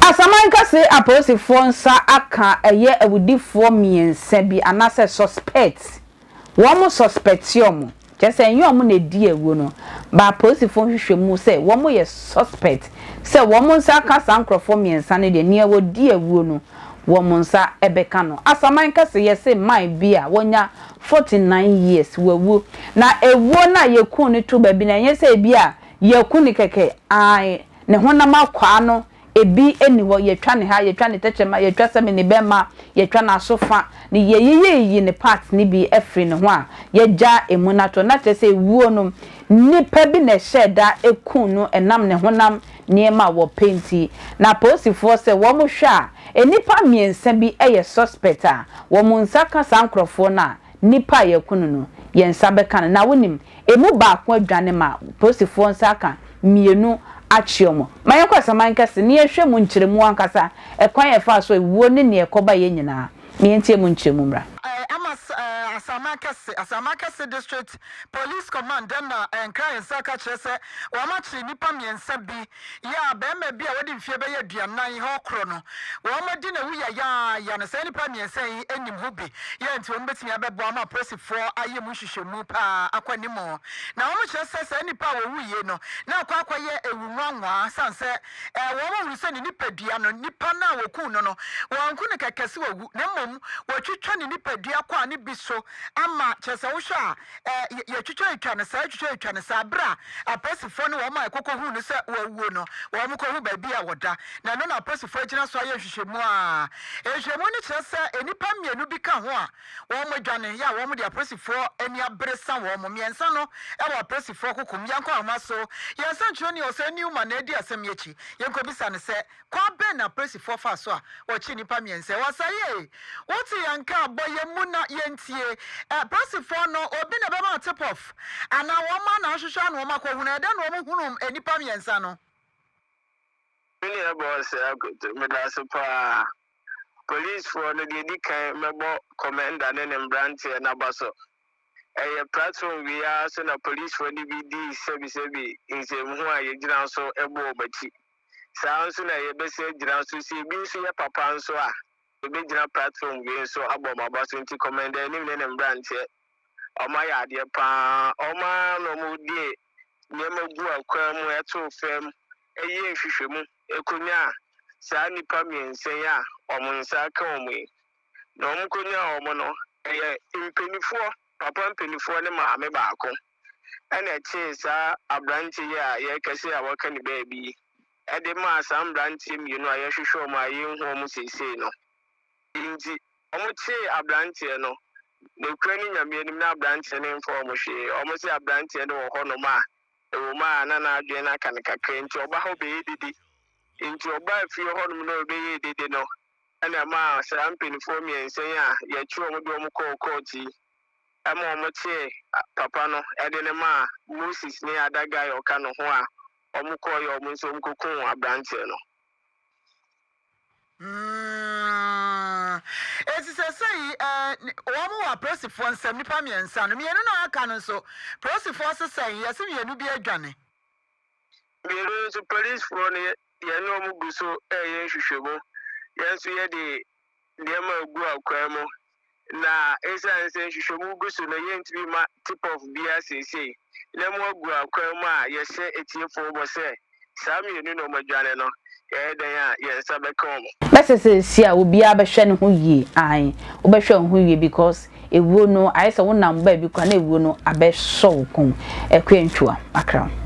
Asaman kɛse apolisifoɔ nsa aka ɛyɛ awudifoɔ mmiɛnsa bi anaasɛ suspects Wɔmo sɔspɛte ɔmo, kyerɛ sɛ ɛnyɛ ɔmo na ɛdii awuo no, but apolisifoɔ nhwehwɛmu sɛ wɔmo yɛ suspect sɛ wɔmo nsa aka saa nkorɔfoɔ mmiɛnsa no deɛ nea wɔdii awuo no wɔmo nsa bɛka no. Asaman kɛse yɛse man bi a wɔnya 49 years wawu na awuo no a yɛkuu no too baabi no ɛnyɛ sɛ ɛbi a yɛaku no kɛkɛ ae ne honam akwaa no Ebi nni hɔ, yɛatwa ne ha, yɛatwa ne tɛkyerɛma, yɛatwa sɛ me ne bɛ mma, yɛatwa n'aso fa, ne yɛayiyiyi ne parts no bi afiri ne ho a, yɛagya ɛmu no ato hɔ. Na kyerɛ sɛ ewuo no, nnipa bi na ɛhyɛɛ da kum no ɛnam ne honam nneɛma a wɔpɛ nti. Na apolisifoɔ sɛ wɔn hwɛ a, nnipa mmiɛnsa bi yɛ suspect a, wɔn nsa ka saa nkorɔfoɔ no a, nnipa a yɛaku no no, yɛn nsa bɛka no. Na wonim, Emu baako adwane ma polisifo nsa aka mmienu akyere wɔn. Ma yɛnkɔ asaman kɛse na yɛnhwɛ mu nkyerɛmu ankasa, ɛkwan a ɛfaa so awuo ne nea ɛkɔbaeɛ nyinaa. Ma yɛntie mu nkyerɛmu mmra. Amas Asaman Kɛse, Asaman Kɛse District Police Command na Nkran nsa aka akyerɛ sɛ wɔakyere nnipa mmiɛnsa bi Yɛ a barima bi a wadi mfeɛ bɛyɛ aduanan hɔ korɔ no, wɔn adi na awu yayaaya no, saa nnipa mmiɛnsa yi nim ho bi. Yɛ a nti wɔn bɛtumi abɛboa ma apolisifoɔ ayɛ mu nhwehwɛmu pa ara akɔ anim. Na wɔkyerɛ sɛ saa nnipa a wɔwuiɛ no na akɔ akɔyɛ awu nwanwaa sane sɛ wɔhunu sɛ ne nipadua no, nipa no a wɔkuu no no, wɔanku no kɛkɛ sɛ wawu na mmom wɔatwitwa ne nipadua kwaa no bi so ama, kyerɛ sɛ wohwɛ a, Ɛ, yɛ, yɛtwitwa-etwa no saa, twitwa-etwa no saa. Bere a apolisifoɔ ne wɔn a ɛkɔkɔhuu no sɛ wawuo no, wɔkɔhu baabi a ɔda, na ɛno na apolisifoɔ agyina so ayɛ nhwehwɛmu a nhwehwɛmu no kyerɛ sɛ nnipa mmienu bi ka ho a wɔadwane, yɛ a wɔde apolisifoɔ ani abere sa wɔn, mmiɛnsa no wɔ apolisifoɔ kokom. Yɛnkɔ ahoma so. Yɛn sɛnkyerɛnni, Ɔsɛe Newman, na adi asɛm yi akyi. Yɛnkɔbisa no sɛ Kwan bɛn na apolisifoɔ faa so a wɔkyee nnipa mmiɛnsa yi? Wɔsɛee wo te yɛn nka a, bɔ yɛn mu na yɛntie. Apolisifoɔ no, obi na ɛbɛma wo tip-off? Anaa wɔn ara na wɔhwehwɛ na wɔakɔhunu? Ɛdɛn na wɔhunuu nnipa mmiɛnsa no? Me nua Boss Akoto, meda ase pa ara. Polisfoɔ no, deɛ ɛdi kan mɛbɔ Commander ne ne mmeranteɛ no aba so. Ɛyɛ platform wei ara so na polisfoɔ no bi dii sɛbisɛbi nsɛmhu a yɛgyina so bɔɔ mo akyi. Saa ara nso na yɛbɛsan agyina so, sɛ ebi nso yɛ papa nso a, yɛbɛgyina platform wei nso abɔ wɔn aba so. Nti Commander Anim ne ne mmeranteɛ, wɔayɛ adeɛ pa ara. Wɔn ara na wɔde nneɛma gu akwan mu, too fam, yɛɛ nhwehwɛmu, kɔnyaa saa nnipa mmiɛnsa yi a wɔn nsa aka wɔn yi. Na wɔkɔnyaa wɔn no, ɛyɛ mpaninfoɔ, papa mpaninfoɔ ne maame baako. ɛna ɛkyee saa aberanteɛ yi a yɛrekɛsɛ a wɔaka ne baabi yi ɛde maa saa mberanteɛ mmienu a yɛrehwehwɛ wɔn a yɛnhu wɔn seesei no. Nti wɔn kyee aberanteɛ no, nokura ne Nyame anim na aberanteɛ no mfa wɔn hwee. Wɔn se aberanteɛ no wɔ hɔ nom a, ɛwɔ mu a na n'adwene no aka no kakra nti ɔba ha ɔbɛyɛ dede. Nti ɔbaa fie hɔ nom na ɔrebɛyɛɛ dede no ɛna ɛmaa saa mpaninfoɔ mmiɛnsa yi a yɛkye wɔn de wɔn kɔɔ kɔɔt yi ma wɔtee papa no de no maa Moses ne adagga a ɔka ne ho a wɔkɔeɛ wɔn nso wɔkɔkuu aberanteɛ no. Mm, esi sɛsɛyi eh, wɔn wɔ apolisifoɔ nsɛm nipa mmiɛnsa no mmienu na aka no nso polisifoɔ sesɛn yɛsi mmienu bi adwane. mmienu nso polisifoɔ no yɛne wɔn gu so ɛyɛ nhwehwɛmu yɛn nso yɛde nneɛma a egu akwaa mu, na esiane sɛ nhwehwɛmu gu so no, yentumi mma tip-off biara seesei. Nnɛ mo agu akwaa mu a yɛhyɛ atiefo bɔ sɛ saa mmienu na wɔadwane no, yɛyɛ dɛn a yɛn nsa bɛka wɔn? Mɛsɛ sɛ ɛsɛ a obiara bɛhwɛ ne ho yie, ae, wobɛhwɛ wo ho yie because Ewuo no ayɛ sɛ wo nam baabi koraa na ewuo no abɛ sɔ wo kɔn mu. Ɛkue ntwua akra wo.